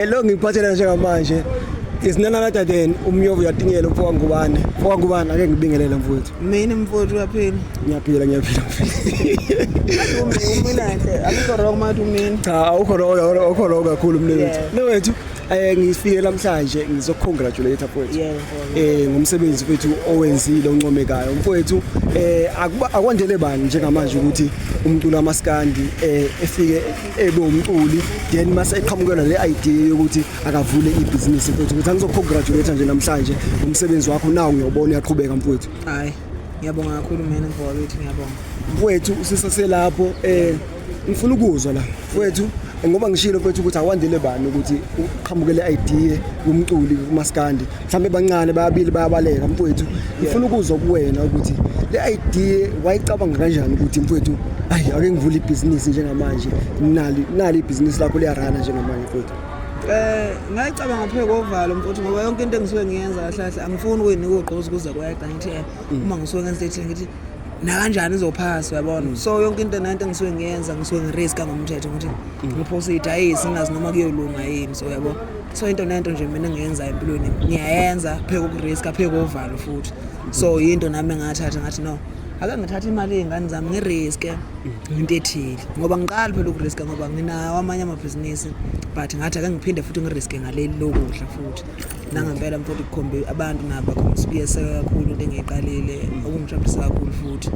Hello ngikuphathela njengamanje is none other than umyovu uyatinyela umfo wangubane umfo wangubane ake ngibingelele mfowethu mina mfowethu uyaphila ngiyaphila ngiyaphila umilande akukho wrong mathi umini cha awukho wrong awukho wrong kakhulu mina wethu mina wethu eh ngifike namhlanje ngizocongratulate mfowethu eh ngomsebenzi wethu owenzile oncomekayo mfowethu eh akwandele bani njengamanje ukuthi umculo amaskandi eh efike ebe umculi then mase eqhamukelwa le idea yokuthi akavule ibhizinisi mfowethu ukuthi angizokugratulate nje namhlanje umsebenzi wakho nawo ngiyobona uyaqhubeka mfowethu hayi ngiyabonga kakhulu mina mfowethu ngiyabonga mfowethu usisaselapho eh ngifuna ukuzwa la mfowethu ngoba ngishilo mfowethu ukuthi awandele bani ukuthi uqhamukele idea kumculi kumaskandi mhlawumbe bancane babili bayabaleka mfowethu ngifuna ukuzwa kuwena ukuthi le idea wayicabanga kanjani ukuthi mfowethu ayi ake ngivule ibhizinisi njengamanje nali nali ibhizinisi lakho liyarana njengamanje mfowethu Eh ngayicabanga phe kovalo mfowethu ngoba yonke into engisuke ngiyenza kahle kahle angifuni ukuyinika ugqozi kuze kwayagcina ngithi eh, uma ngisuke ngenze ethile ngithi nakanjani izophasa uyabona mm. so yonke into nento engisuke ngiyenza ngisuke ngiriska ngomthetho ukuthi mm. ngiphosa idayisi ngazi noma kuyolunga yini so uyabona so into nento nje mina ngiyenza empilweni ngiyayenza pheke ukuriska pheke kovalo futhi so yinto nami engathatha ngathi no ake ngithathe imali yey'ngane zami ngiriske mm. into ethile ngoba ngiqali phela ukuriska ngoba nginawo amanye amabhizinisi but ngathi ake ngiphinde futhi ngiriske ngaleli lokudla futhi nangempela mfowethu kukhombe abantu nabo bakhombisa ukuyeseka kakhulu into engiyiqalile okungijabulisa kakhulu futhi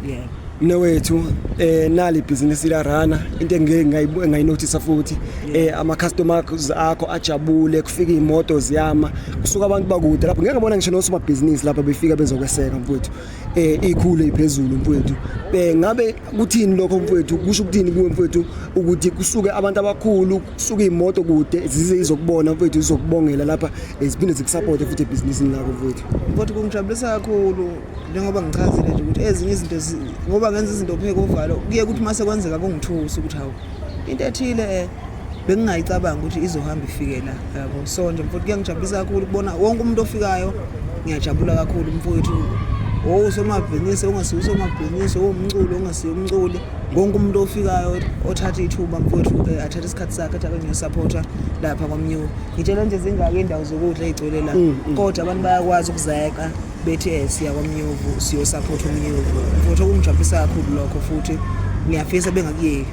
yeah mina wethu eh nali business la rana into engeke ngayinothisa futhi eh ama customers akho ajabule kufika imoto ziyama kusuka abantu bakude lapho ngeke ngabona ngisho nosoma business lapha befika bezokweseka mfowethu eh ikhule iphezulu mfowethu eh ngabe kuthini lokho mfowethu kusho ukuthini kuwe mfowethu ukuthi kusuke abantu abakhulu suke imoto kude zize izokubona mfethu izokubongela lapha ziphinde zikusapothe futhi ebhizinisini lakho mfethu kodwa kungijabulisa kakhulu njengoba ngichazile nje ukuthi ezinye izinto ngoba ngenza izinto pheke uvalo kuye ukuthi uma sekwenzeka kungithusa ukuthi hawu into ethile um bengingayicabanga ukuthi izohamba ifike la yabo so nje mfowethu kuyangijabulisa kakhulu ukubona wonke umuntu ofikayo ngiyajabula kakhulu mfowethu owusomabhizinisi ongasiwusomabhizinisi owumculo ongasiye umculi wonke umuntu ofikayo othatha ithuba mfowethu um athathe isikhathi sakhe athi akangiyosaphotha lapha kwamnyuka ngitshela nje zingaki iy'ndawo zokudla ey'gcwele la mm, mm. kodwa abantu bayakwazi ukuzeqa bethi um siya kwamnyuvu siyosaphotha umnyuvu mfowethu okungijabulisa kakhulu lokho futhi ngiyafisa bengakuyeki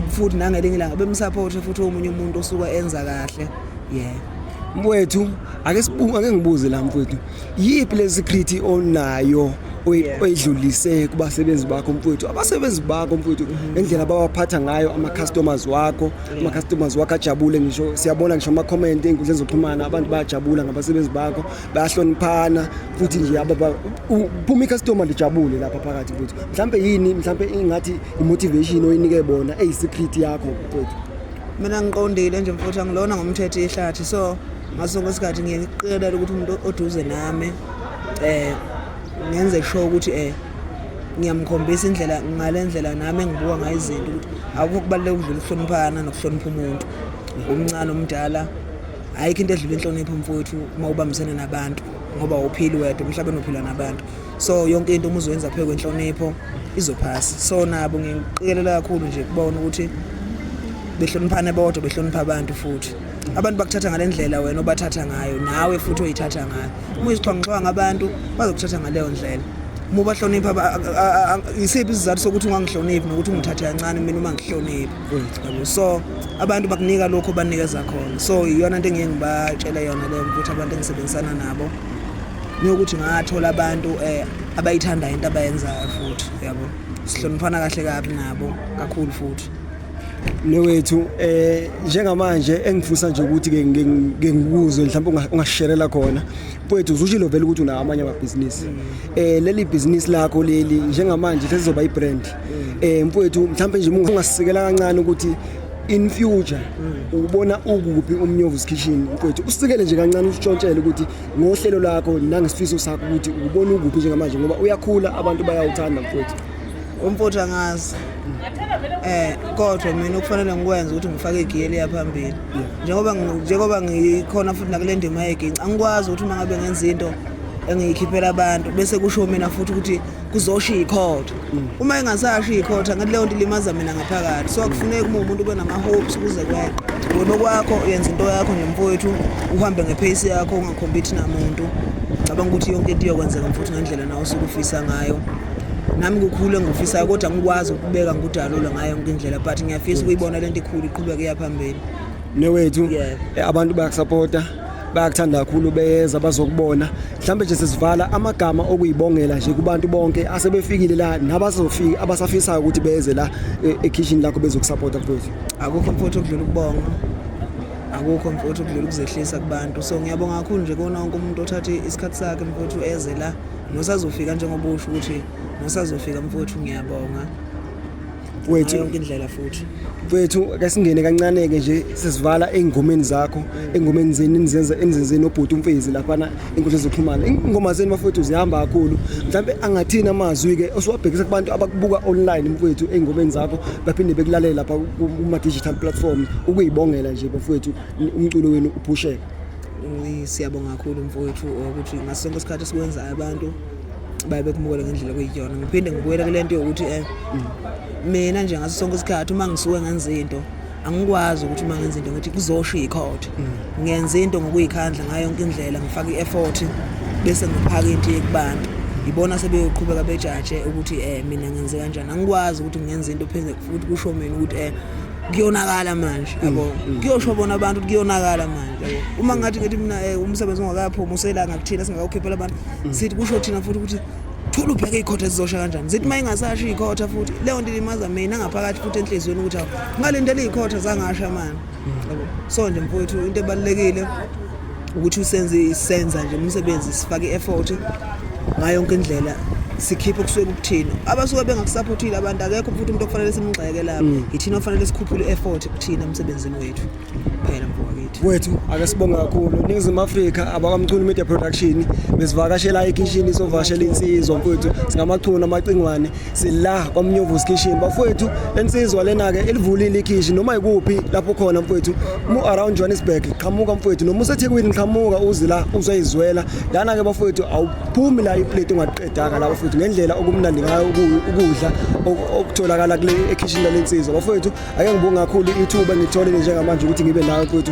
futhi nangelinye ilanga bemsaphothe futhi omunye umuntu osuke enza kahle ye mfowethu ake ngibuze la mfowethu yiphi le secret onayo oyidlulise kubasebenzi bakho mfowethu abasebenzi bakho mfowethu ngendlela babaphatha ngayo ama-customers wakho ama-customers wakho ajabule ngisho siyabona ngisho ama-comment ey'nkundleni zokuxhumana abantu bayajabula ngabasebenzi bakho bayahloniphana futhi nje phuma i-customer lijabule lapha phakathi mfowethu mhlawumbe yini mhlawumbe ingathi i-motivation oyinike bona eyi-secret yakho mfowethu mina ngiqondile nje mfowethu angilona ngomthetho ihlathi so ngaso sonke isikhathi ngiye ngiqikelela ukuthi umuntu oduze nami eh ngenze sure ukuthi eh ngiyamkhombisa indlela ngale ndlela nami engibuka ngayo izinto ukuthi akukho kubaluleka ukudlula ukuhloniphana nokuhlonipha umuntu umncane omdala ayikho into edlula inhlonipho mfowethu uma ubambisene nabantu ngoba uphili wedwa emhlabeni uphila nabantu so yonke into uma uzoyenza phezu kwenhlonipho izophasa so nabo ngiqikelela kakhulu nje kubona ukuthi behloniphane bodwa behlonipha abantu futhi abantu bakuthatha ngale ndlela wena obathatha ngayo nawe futhi oyithatha ngayo uma uyizixhwangaxhwanga abantu bazokuthatha ngaleyo ndlela uma ubahlonipha yisiphi isizathu sokuthi ungangihloniphi nokuthi ungithathe kancane mina uma ngihloniphi yabo so abantu bakunika lokho banikeza khona so iyona nto engiye ngibatshele yona leyo ukuthi abantu engisebenzisana nabo niyokuthi ngathola abantu um abayithandayo into abayenzayo futhi yabo sihloniphana kahle kabi nabo kakhulu futhi newethu eh njengamanje engifisa nje ukuthi ke ngikuzwe mhlawumbe ungasherela khona mfowethu uzushilo vele ukuthi unawo amanye amabhizinisi eh leli business lakho leli njengamanje sesizoba ibrand eh mfowethu mhlawumbe nje ungasisekela kancane ukuthi in future ubona ukuphi umnyovu's kitchen mfowethu usikele nje kancane usitshontshele ukuthi ngohlelo lakho nangesifiso sakho ukuthi ubona ukuphi njengamanje ngoba uyakhula abantu bayawuthanda mfowethu umfowethu angazi eh kodwa mina okufanele ngikwenze ukuthi ngifake igiyeli yaphambili njengoba njengoba ngikhona futhi nakule ndima yeginci angikwazi ukuthi uma ngabe ngenza into engiyikhiphela abantu bese kusho mina futhi ukuthi kuzosho ikhotha mm. uma engasasho ikhotha ngathi leyo nto ilimaza mina ngaphakathi so akufuneki uma umuntu ube nama-hopes ukuze kweqe wena okwakho uyenza into yakho nemfowethu uhambe ngepheyisi yakho ungakhombithi namuntu cabanga ukuthi yonke into iyokwenzeka mfuthi ngendlela nawe osuke ufisa ngayo nami kukhulu engifisayo kodwa ngikwazi ukubeka ngikudalule ngayo yonke indlela but ngiyafisa ukuyibona le nto ikhulu iqhubeke iya phambili newethu Yeah. eh, abantu bayakusapota bayakuthanda kakhulu beyeza bazokubona mhlawumbe nje sesivala amagama okuyibongela nje kubantu bonke asebefikile la nabazofika abasafisayo ukuthi beze la eh, ekhishini lakho bezokusapota mfowethu akukho mfowethu okudlula ukubonga akukho mfowethu okudlula ukuzehlisa kubantu so ngiyabonga kakhulu nje kona wonke umuntu othathe isikhathi sakhe mfowethu eze la Nosazofika njengoba usho ukuthi nosazofika mfowethu ngiyabonga. Wethu yonke indlela futhi. Wethu kasingene kancane ke nje sizivala engomeni zakho, engomeni zenu nizenza emzenzeni obhuti umfezi lapha na inkundla zokuxhumana. Ingoma zenu bafowethu zihamba kakhulu. Mhlambe angathini amazwi ke osiwabhekisa kubantu abakubuka online mfowethu engomeni zakho baphinde bekulalela lapha kuma digital platform ukuyibongela nje bafowethu umculo wenu uphusheke. Siyabonga kakhulu mfowethu ukuthi ngaso sonke isikhathi sikwenzayo abantu baye bekumukele ngendlela okuyiyona ngiphinde ngibuyele kule nto yokuthi um mina nje ngaso sonke isikhathi uma ngisuke ngenza into angikwazi ukuthi uma ngenza into ngithi kuzosho ikhothe mm. ngenza into ngokuyikhandla ngayo yonke indlela ngifake i-effort bese ngiphaka into yekubantu yibona sebeyoqhubeka bejaje ukuthi um mina ngenze kanjani angikwazi ukuthi ngenze into pheze futhi kusho mina ukuthi um kuyonakala manje mm, yabo mm. kuyosho bona abantu kuyonakala manje yabo uma ngathi ngithi mina eh, umsebenzi ongakaphumi uselanga kuthina singakawukhiphela abantu mm. sithi kusho thina futhi ukuthi thola ubheke ikhotha ezizosha kanjani zithi uma ingasasho ikhotha futhi leyo nto ilimaza mina ngaphakathi futhi enhliziyweni ukuthi awu ngalindela ikhotha zangasha mani so nje mfowethu into ebalulekile ukuthi usenze isenza nje umsebenzi sifake i-effort ngayo yonke indlela sikhiphe okusuke kuthina abasuke bengakusaphothile abantu akekho futhi umuntu okufanele simgxeke lapho mm. yithina ofanele sikhuphule i-effort kuthina emsebenzini wethu phela mfowethu wethu ake sibonge kakhulu ningizimu afrika abakamchunu media production besivakashela ikishini sovakashela insizwa mfowethu singamachunu amacingwane sila kwamnyovusi kitchen bafowethu lensizwa lena-ke ilivulile ikhishi noma yikuphi lapho khona mfowethu mu-around johannesburg qhamuka mfowethu noma usethekwini qhamuka uze la uzoyizwela lana-ke bafowethu awuphumi la iplate ungaqedaka la bafowethu ngendlela okumnandi ngayo ukudla okutholakala kule ekhishini lalensizwa bafowethu ake ngibonge kakhulu ithuba ngitholile njengamanje ukuthi ngibe nayo mfowethu